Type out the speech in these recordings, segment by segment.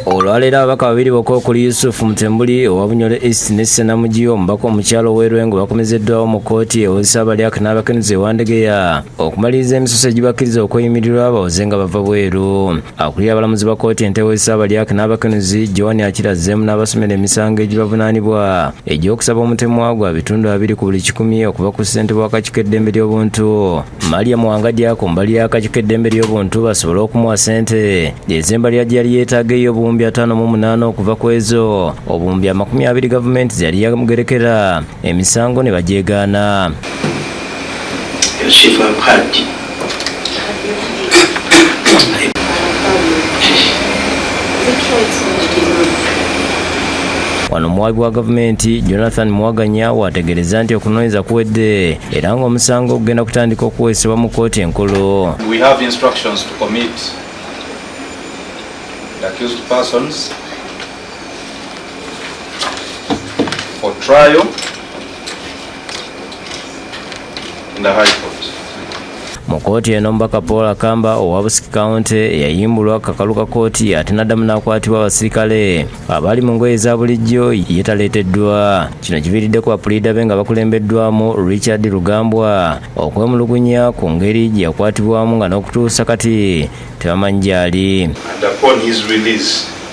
olwaleero ababaka babiri bokka okuli yusufu mutembuli owa bunyole east ne senamugi omubaka omukyalo ow'erwengo bakomezeddwawo mu kkooti ewozesa abalyaka n'abakenuzi ewandegeya okumaliriza emisoso egibakkiriza okweyimirirwa bawoze nga bava bweru akulira abalamuzi ba kkooti enteewo ezisaabalyak n'abakenuzi joan akira zemu n'abasomera emisango egibavunaanibwa egy'okusaba omutemwa gwa bitundu abiri ku buli kikumi okuva ku ssente bw'akakiiko eddembe ly'obuntu maria mwangajja ku mbali y'akakiiko eddembe ly'obuntu basobole okumuwa ssente ez'embalira gye yali yeetaaga ey'obuwumbi ataano mu munaana okuva ku ezo obuwumbi amakumi abiri gavumenti ze yali yamugerekera emisango ne bagyegaana. Wano omuwaabi wa gavumenti Jonathan Muwaganya waategeerezza nti okunoonyeza kuwedde era ng'omusango ogenda kutandika okuweesebwa mu kkooti enkulu. We have instructions to commit the accused persons for trial in the High Court. mu kkooti eno omubaka paul akamba owa busiki kawunti yayimbulwa akakalu ka kkooti ate n'addamu n'akwatibwa abasirikale abaali mu ngoye eza bulijjo ye taleeteddwa kino kiviiriddeko bapuliida be nga bakulembeddwamu richard lugambwa okwemulugunya ku ngeri gye yakwatibwamu nga n'okutuusa kati tebamanyi gy'ali And upon his release,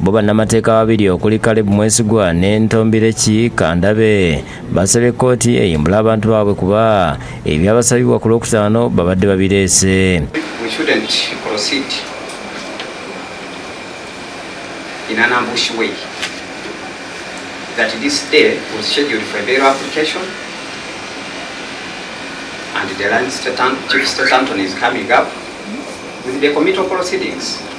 Bo bannamateeka babiri okuli Caleb Mwesigwa ne Ntombireki Kandabe basabye kkooti eyimbule abantu baabwe kuba ebyabasabibwa ku Lwokutaano babadde babireese. that this day was scheduled for a bail application and the line Chief Statanton is coming up with the committal proceedings.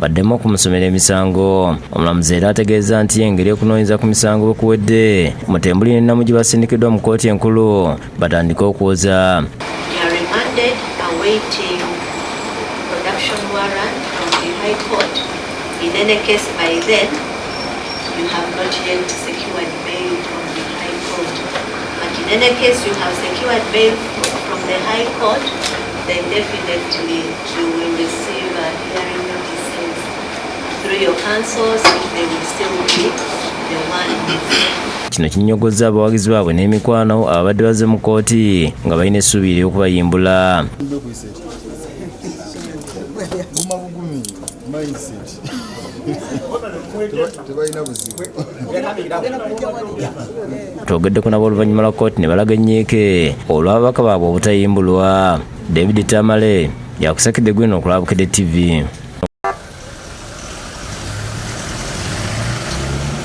baddemu okumusomera emisango omulamuzi era ategeeza nti engeri okunoonyeza ku misango bwe kuwedde mutembuli ne namugi basindikiddwa mu kkooti enkulu batandike okwoza In any case, you have secured bail from the High Court, then definitely you will receive a Kino kinyogozza abawagizi baabwe n'emikwano ababadde bazze mu kkooti nga balina essuubi ery'okubayimbula. twogeddeko nabo oluvannyuma lwa kkooti ne balaga ennyiike olw'ababaka baabwe obutayimbulwa david tamale yakusekede gwino okulaba Bukedde TV.